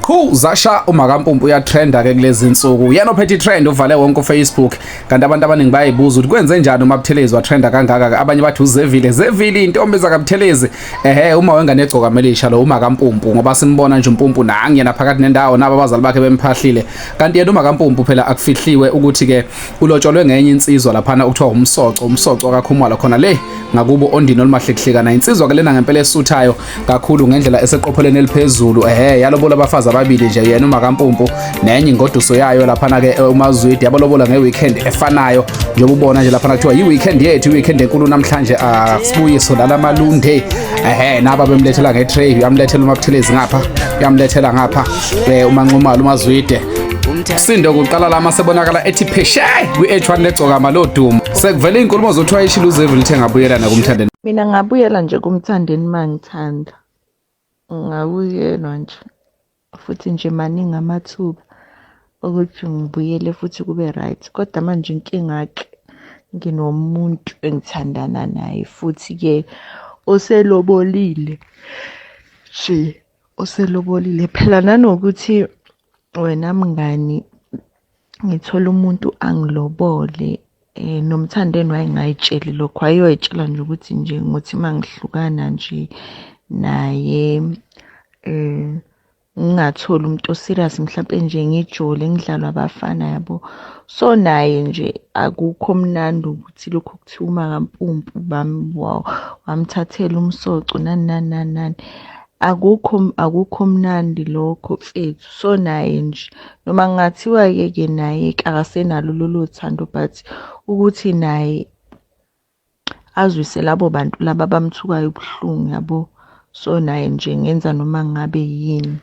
Qhu zasha umakampumpu uyatrenda ke kulezi insuku. Yena ophethe trend uvale wonke uFacebook kanti abantu abaningi bayibuza ukuthi kwenze njani uma Buthelezi watrenda kangaka ke abanye bathi uzevile zevile intombi zaka Buthelezi. Ehhe uma wengane egcoka melisha lo umakampumpu ngoba simbona nje umpumpu nangi yena phakathi nendawo nabo abazali bakhe bemphahlile. Kanti yena umakampumpu phela akufihliwe ukuthi ke ulotsholwe ngenye insizwa laphana okuthiwa umsoco umsoco akakhumala khona le ngakubo ondini olumahlekhlekana insizwa ke lena ngempela esuthayo kakhulu ngendlela eseqophelweni eliphezulu ehe yalobola abafazi ababili nje yena umakampumpu nenye ingoduso yayo laphana-ke eh, umazwidi yabalobola nge-weekend efanayo njengoba ubona nje laphana kuthiwa yi-weekend yethu i-weekend enkulu namhlanje asibuye ah, sodlala malunde ehe naba bemlethela nge-tray uyamlethela umabuthelezi ngapha uyamlethela ngapha um eh, umanqumalo umazwide sindo kuqala lama sebonakala ethi pheshe kwi-h1 legcokama lodumo sekuvele iy'nkulumo zothiwa ishilo uzevile lithe ngabuyelana kumthandeni Mina ngabuyela nje kumthandeni mangithanda. Ngabuyelwa nje futhi nje maningi amathuba ukuthi ngibuyele futhi kube right kodwa manje inkinga-ke nginomuntu engithandana naye futhi-ke oselobolile nje oselobolile phela nanokuthi wena mngani ngithola umuntu angilobole eh nomthandeni wayengayitsheli lokho ayoyitshela nje ukuthi nje ngothi mangihlukana nje naye eh ngingatholi umuntu oserious mhlawumpe nje ngijole ngidlalwa abafana yabo so naye nje akukho mnandi ukuthi lokho kuthiwa umakampumpu bami wamthathela umsoco nani nani nani nani Akukho akukho mnandi lokho mfethu so naye nje noma kungathiwa ke ke naye akasenalo lolo thando but ukuthi naye azwise labo bantu laba abamthukayo ubuhlungu yabo so naye nje ngenza noma ngabe yini.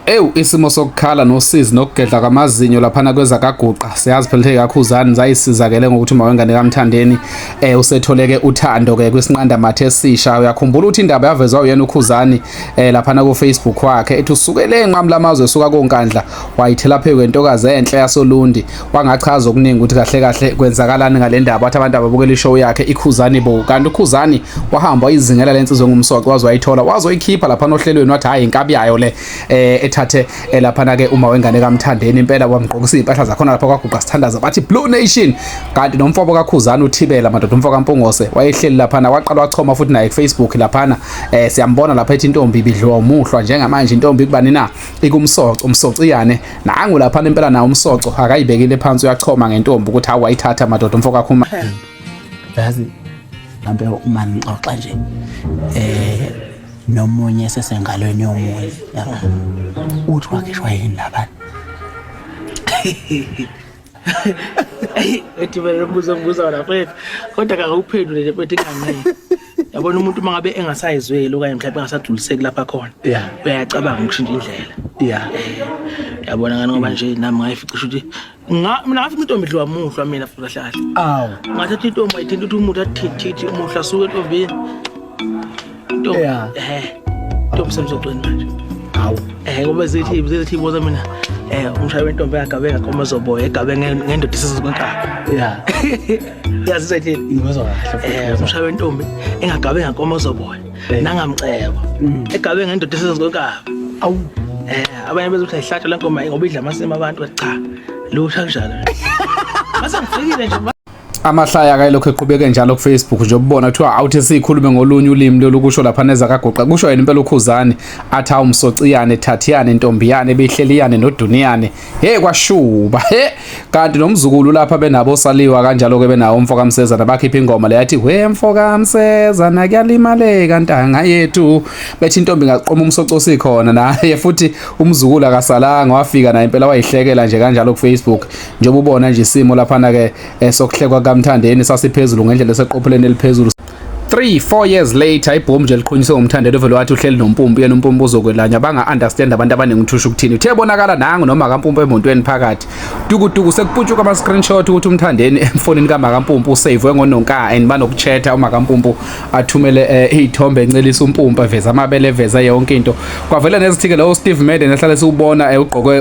Ewu isimo sokukhala nosizi nokugedla kwamazinyo laphana kwezakaguqa siyazi phela ukuthi kakhuzani zayisizakele ngokuthi uma wengane kamthandeni eh usetholeke uthando ke kwisinqanda mathe esisha uyakhumbula ukuthi indaba yavezwa uyena ukhuzani eh laphana ku Facebook wakhe ethi usukele enqamu lamazwe esuka konkandla wayithela phezu kwentokazi enhle yasolundi wangachaza okuningi ukuthi kahle kahle kwenzakalani ngale ndaba wathi abantu ababukela ishow yakhe ikhuzani bo kanti ukhuzani wahamba wayizingela lensizwe ngumsoco waze wayithola waze wayikhipha lapha nohlelweni wathi hayi inkabi yayo le eh, ethathe eh, lapha na ke uma wengane kamthandeni impela wamgqokisa impahla zakhona lapha kwaguqa sithandaza bathi blue nation kanti nomfoko kakhuzani uthibela madoda umfoko kampungose wayehleli lapha na waqala wachoma futhi naye kufacebook lapha na eh, siyambona lapha ethi intombi ibidliwa umuhlwa njengamanje intombi kubani na ikumsoco umsoco iyane nangu laphana impela nawo umsoco akayibekile phansi uyachoma ngentombi ukuthi hawu wayithatha madoda umfo kakhuma yazi mhlampe uma ngixoxa nje eh nomunye sesengalweni yomunye uthi wakishwa yini labana eyi ethi vele lombuzo ngibuza wona mfethu kodwa kakawuphendule le mfethu inganele yabona umuntu uma ngabe engasayizweli okanye mhlawumbe engasagculiseki lapha khona Yeah. uyacabanga ukushintsha indlela ya yabona ngani ngoba nje nami ngayificisha ukuthi nga- mina ngafica intombi idliwa muhlwa mina futhi kahle kahle awu ngathatha intombi ayithinta ukuthi umuthi athithithi umuhlwa asuke entombini Ntombi. Yeah. Eh. Ntombi semzogcweni manje. Hawu. Eh ngoba zithi zithi iboza mina eh umshaya wentombi yagabe ngakoma zoboya egabe nge- ngendoda isizokwenkabi. Yeah. Yazi sethi Ngizwa kahle. eh umshaya wentombi engagabe ngakoma zoboya Eh. nangamcebo. Mm. Egabe ngendoda isizokwenkabi. Awu. Eh abanye bezothi ayihlatshwa lenkomo ngoba idla amasimo abantu cha. Lusha kunjalo. Mase ngifikile nje. amahlaya akayilokhu eqhubeke njalo kufacebook nje ubona kuthiwa awuthi siyikhulume ngolunye ulimi lolukusho lapha neza kagoqa kusho yena impela ukhuzane athi awu msociyane thathiyane ntombiyane behleliyane noduniyane he kwashuba he kanti nomzukulu lapha benabo saliwa kanjalo-ke benawo umfo kamsezana bakhipha ingoma le yathi we mfo kamsezana kuyalimaleka ntanga yethu bethi intombi ngaqoma umsocosi khona naye futhi umzukulu akasalanga wafika naye impela wayihlekela nje kanjalo kufacebook njengoba ubona nje isimo laphana ke eh, sokuhlekwa kamthandeni sasiphezulu ngendlela eseqopheleni eliphezulu 3 4 years later ibhomu nje liqhunyiswe ngomthandelo vele wathi uhleli nompumpu yena umpumpu uzokwelanya banga understand abantu abaningi uthusha ukuthini uthe bonakala nangu noma kampumpu emontweni phakathi dukuduku sekuputshuka ama screenshot ukuthi umthandeni emfonini kamakampumpu usave ngononka and banokuthetha umakampumpu athumele eh, izithombe uh, encelisa umpumpa veza amabele veza yonke into kwavela nezithike lo Steve Madden ehlale siwubona eh, ugqoke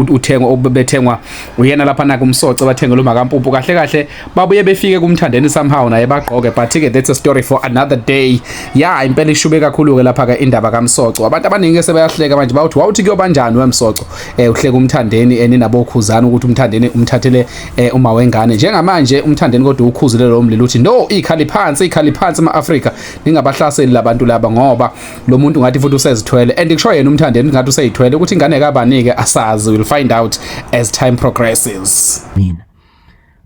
uthengwa obethengwa uyena lapha na kumsoce bathenge lo makampumpu kahle kahle babuye befike kumthandeni somehow naye bagqoke but ke that's a story for another day yeah impela ishube kakhulu ke lapha ke indaba kamsoco abantu abaningi ke sebayahleka manje bawuthi wawuthi kuyobanjani wemsoco eh uhleka umthandeni eninabo eh, khuzana ukuthi umthandeni umthathele eh uma wengane njengamanje umthandeni kodwa ukhuzile lo mlilo uthi no ikhali phansi ikhali phansi emaAfrika ningabahlaseli labantu laba ngoba lo muntu ngathi futhi usezithwele and kusho yena umthandeni ngathi useyithwele ukuthi ingane kabanike asazi will find out as time progresses mina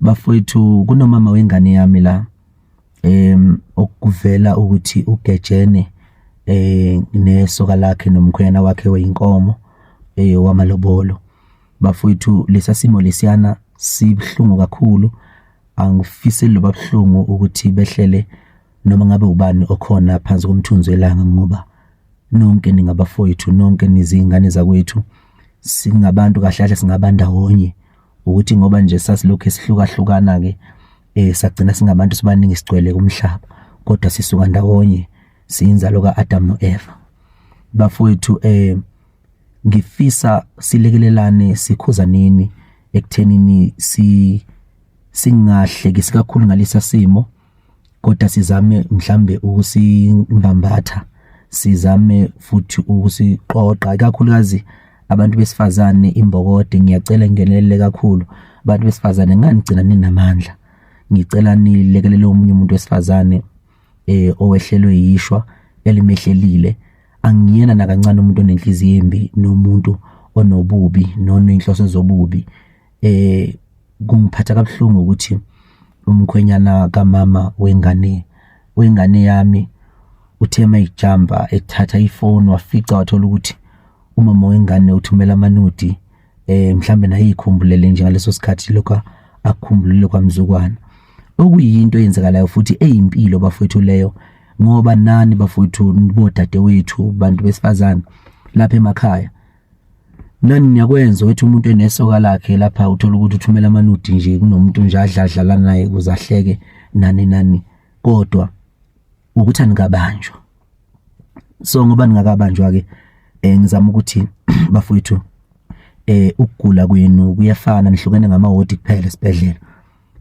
bafowethu kunomama wengane yami la em okuvela ukuthi ugejene eh nesoka lakhe nomkhwena wakhe weyinkomo eh wamalobolo Bafowethu lesasimo lesiyana sibhlungu kakhulu angifiseli loba buhlungu ukuthi behlele noma ngabe ubani okhona phansi komthunzi welanga ngoba nonke ningabafowethu nonke nizingane zakwethu singabantu kahle kahle singaba ndawonye ukuthi ngoba nje sasilokhu esihlukahlukana ke eh sagcina singabantu sibaningi sigcwele kumhlaba kodwa sisuka ndawonye siyinzalo kaAdam noEva bafowethu eh ngifisa silekelelane sikhuzaneni ekuthenini si singahlekisi kakhulu ngalesa simo kodwa sizame mhlambe ukusibambatha sizame futhi ukusiqoqa ikakhulukazi abantu besifazane imbokode ngiyacela ngenelele kakhulu abantu besifazane nganigcina ninamandla ngicela nilekelele omunye umuntu wesifazane eh owehlelwe yishwa elimehlelile angiyena nakancane umuntu onenhliziyo embi nomuntu onobubi nonenhloso zobubi eh kungiphatha kabuhlungu ukuthi umkhwenyana kamama wengane wengane yami uthe uma ijamba ethatha ifoni wafica wathola ukuthi umama wengane uthumela amanudi eh mhlambe naye ikhumbulele nje ngaleso sikhathi lokho akukhumbulile kwamzukwana okuyinto eyenzekalayo futhi eyimpilo bafowethu leyo ngoba nani bafowethu bodade wethu bantu besifazane lapha emakhaya nani niyakwenza ukuthi umuntu enesoka lakhe lapha uthola ukuthi uthumela amanudi nje kunomuntu nje adladlala naye kuzahleke nani nani kodwa ukuthi anikabanjwa so ngoba ningakabanjwa ke eh ngizama ukuthi bafowethu eh ukugula kwenu kuyafana nihlukene ngamahodi kuphela esibhedlela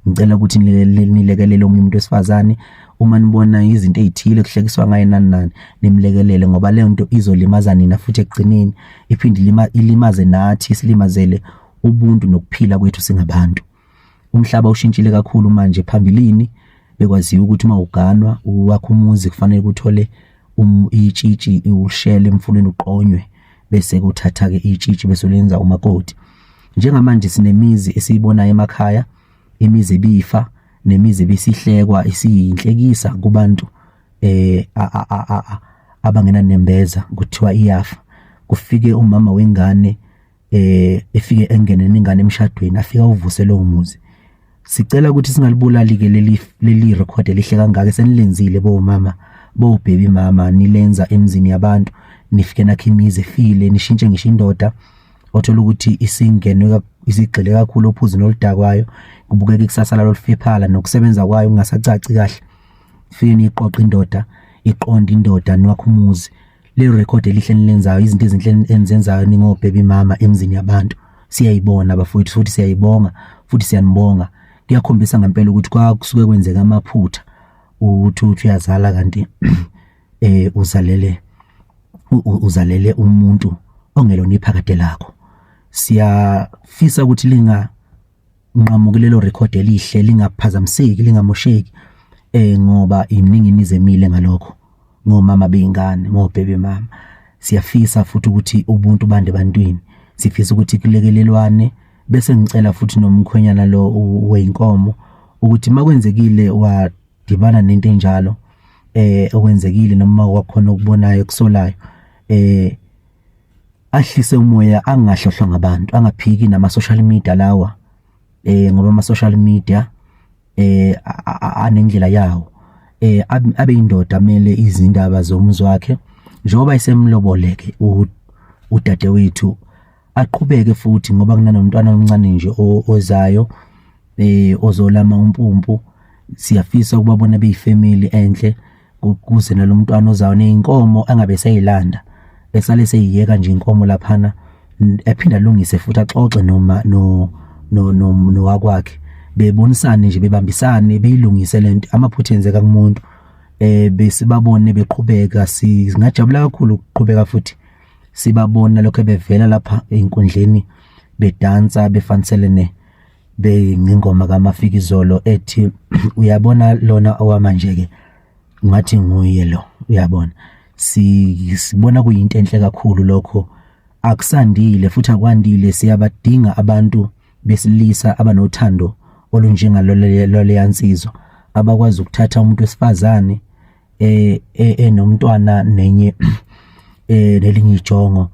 ngicela ukuthi nilekelele omunye umuntu wesifazane uma nibona izinto ezithile kuhlekiswa ngaye nani nani nimlekelele ngoba leyo nto izolimaza nina futhi ekugcineni iphinde ilimaze nathi silimazele ubuntu nokuphila kwethu singabantu umhlaba ushintshile kakhulu manje phambilini bekwaziwa ukuthi uma uganwa uwakha umuzi kufanele kuthole um, itshitshi ushele emfuleni uqonywe bese kuthatha-ke itshitshi bese lenza umakoti njengamanje sinemizi esiyibonayo emakhaya imizi ebifa nemizi ebisihlekwa isiyinhlekisa kubantu eh abangenanembeza kuthiwa iyafa kufike umama wengane eh efike engene ningane emshadweni afika uvuse lo muzi sicela ukuthi singalibulali ke leli leli record elihle kangaka senilenzile bo mama bo baby mama nilenza emzini yabantu nifike nakhe imizi efile nishintshe ngisho indoda othola ukuthi isingenwe isigxile kakhulu ophuzini oludakwayo kubukeka ikusasa lalo lifiphala nokusebenza kwayo kungasacaci kahle fike niqoqa indoda iqonda indoda niwakhe umuzi Le record elihle nilenzayo izinto ezinhle enizenzayo ningobhebi mama emzini yabantu siyayibona bafowethu futhi siyayibonga futhi siyanibonga kuyakhombisa ngempela ukuthi kwakusuke kwenzeka amaphutha ukuthi uthi uyazala kanti eh uzalele uzalele umuntu ongelona iphakade lakho siyafisa ukuthi linga unqamuke lelo record elihle lingaphazamiseki lingamosheki eh ngoba iningi nizemile ngalokho ngomama beyingane ngobhebe mama siyafisa futhi ukuthi ubuntu bande bantwini sifisa ukuthi kulekelelwane bese ngicela futhi nomkhwenyana lo weinkomo ukuthi makwenzekile wadibana nento enjalo eh okwenzekile noma kwakhona okubonayo kusolayo eh ahlise umoya angahlohlwa ngabantu angaphiki nama social media lawa eh ngoba ama social media eh anendlela yawo eh abe indoda amele izindaba zomzi wakhe njengoba isemloboleke udade wethu aqhubeke futhi ngoba kunanomntwana omncane nje ozayo eh ozolama umpumpu siyafisa ukubabona beyifamily enhle kuze nalo mntwana ozayo neyinkomo angabe eseyilanda esale seyiyeka nje inkomo laphana ephinda lungise futhi axoxe noma no no no nowakwakhe bebonisane nje bebambisane beyilungise lento amaphutha enzeka kumuntu eh besibabone beqhubeka singajabula kakhulu ukuqhubeka futhi sibabona lokho bevela lapha enkundleni bedansa befaniselene beyingoma kaMafikizolo ethi uyabona lona owamanje ke ngathi nguye lo uyabona sibona kuyinto enhle kakhulu lokho akusandile futhi akwandile siyabadinga abantu besilisa abanothando olunjengaloleyansizwa abakwazi ukuthatha umuntu wesifazane eh, eh enomntwana nenye eh nelinye ijongo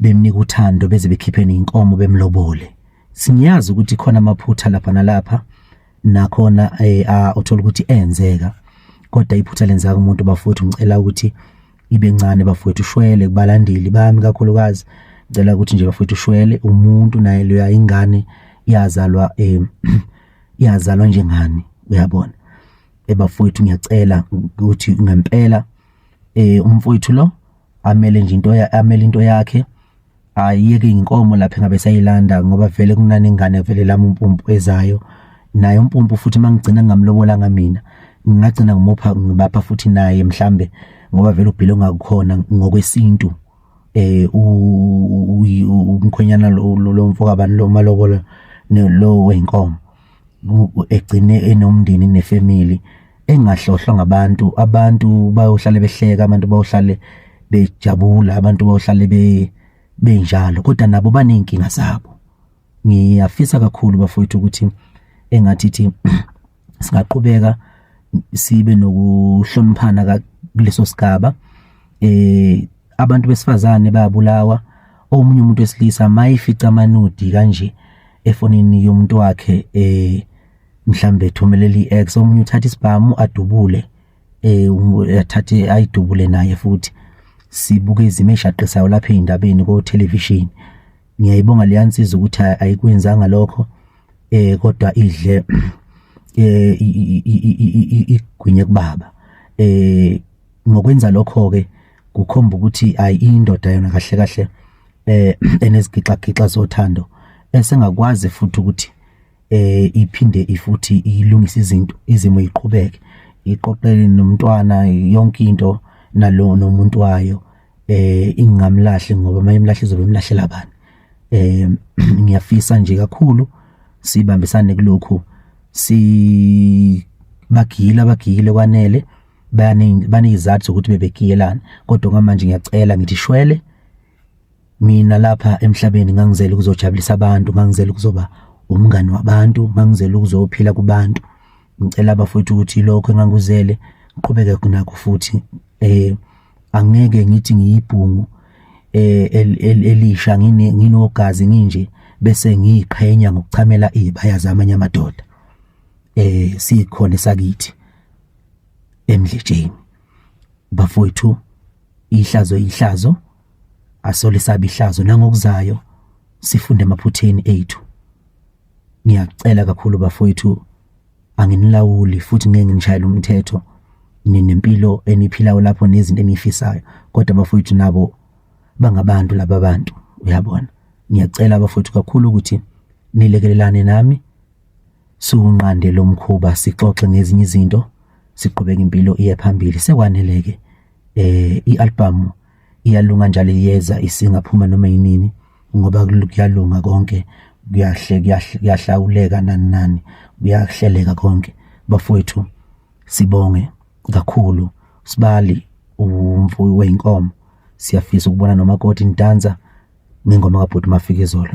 bemnika uthando beze bekhiphene inkomo bemlobole Singiyazi ukuthi khona amaphutha lapha nalapha nakhona eh, ah, uthola ukuthi enzeka kodwa iphutha lenzeka umuntu bafowethu ngicela ukuthi ibe ncane bafowethu ushwele kubalandeli bami kakhulukazi ngicela ukuthi nje bafowethu ushwele umuntu naye loya ingane yazalwa eh, yazalwa njengani uyabona ebafowethu ngiyacela ukuthi ngempela eh umfowethu lo amele nje into amele into yakhe ayiyeke inkomo lapha engabe sayilanda ngoba vele kunani ingane vele lami umpumpu ezayo naye umpumpu futhi mangigcina ngamlobolanga mina ngingagcina ngimupha ngibapha futhi naye mhlambe ngoba vele ubhile ongakukhona ngokwesintu eh umkhonyana lo mfokabani lo malobola lo wenkomo egcine enomndeni nefamily engahlohlwa ngabantu abantu bayohlale behleka abantu bayohlale bejabula abantu bayohlale be benjalo kodwa nabo baney'nkinga zabo ngiyafisa kakhulu bafowethu ukuthi engathi thi singaqhubeka sibe nokuhloniphana kuleso sigaba eh abantu besifazane bayabulawa omunye umuntu wesilisa mayifica amanudi kanje efonini yomuntu wakhe eh mhlambe ethumeleli ex omunye uthatha isibhamu adubule eh athathe ayidubule naye futhi sibuke izimo eshaqisayo lapha endabeni ko television ngiyayibonga leyansiza ukuthi ayikwenzanga lokho eh kodwa idle eh igwinye kubaba eh ngokwenza lokho-ke kukhomba ukuthi ayi indoda yona kahle kahle eh enezigixagixa zothando esengakwazi futhi ukuthi eh iphinde ifuthi ilungise izinto izimo iqhubeke iqoqele nomntwana yonke into nalo nomuntu wayo eh ingamlahle ngoba mayimlahle izobe imlahlela bani eh ngiyafisa nje kakhulu sibambisane kulokhu si bagile abagile kwanele bayaningi banezizathu zokuthi bebekiyelana kodwa ngamanje ngiyacela ngithi shwele mina lapha emhlabeni ngangizela ukuzojabulisa abantu ngangizela ukuzoba umngani wabantu ngangizela ukuzophila kubantu ngicela bafowethu ukuthi lokho enganguzele ngiqhubeke kunakho futhi eh angeke ngithi ngiyibhungu eh elisha ngine nginogazi nginje bese ngiyiqhenya ngokuchamela izibaya zamanye amadoda eh sikhona sakithi emdletsheni bafowethu ihlazo ihlazo asole sabe ihlazo nangokuzayo sifunde emaphutheni ethu ngiyacela kakhulu bafowethu anginilawuli futhi ngeke nginishayele umthetho ninempilo eniphilayo lapho nezinto enifisayo kodwa bafowethu nabo bangabantu laba bantu uyabona ngiyacela bafowethu kakhulu ukuthi nilekelelane nami Siwunqande lo mkhuba sixoxe ngezinye izinto siqhubeke impilo iye phambili sekwaneleke eh ialbum iyalunga njalo iyeza isingaphuma noma yinini ngoba kuyalunga konke kuyahle kuyahlawuleka nani nani kuyahleleka konke bafowethu sibonge kakhulu sibali umfuyi weinkomo siyafisa ukubona nomakoti ntanza ngengoma kabhuti mafikizolo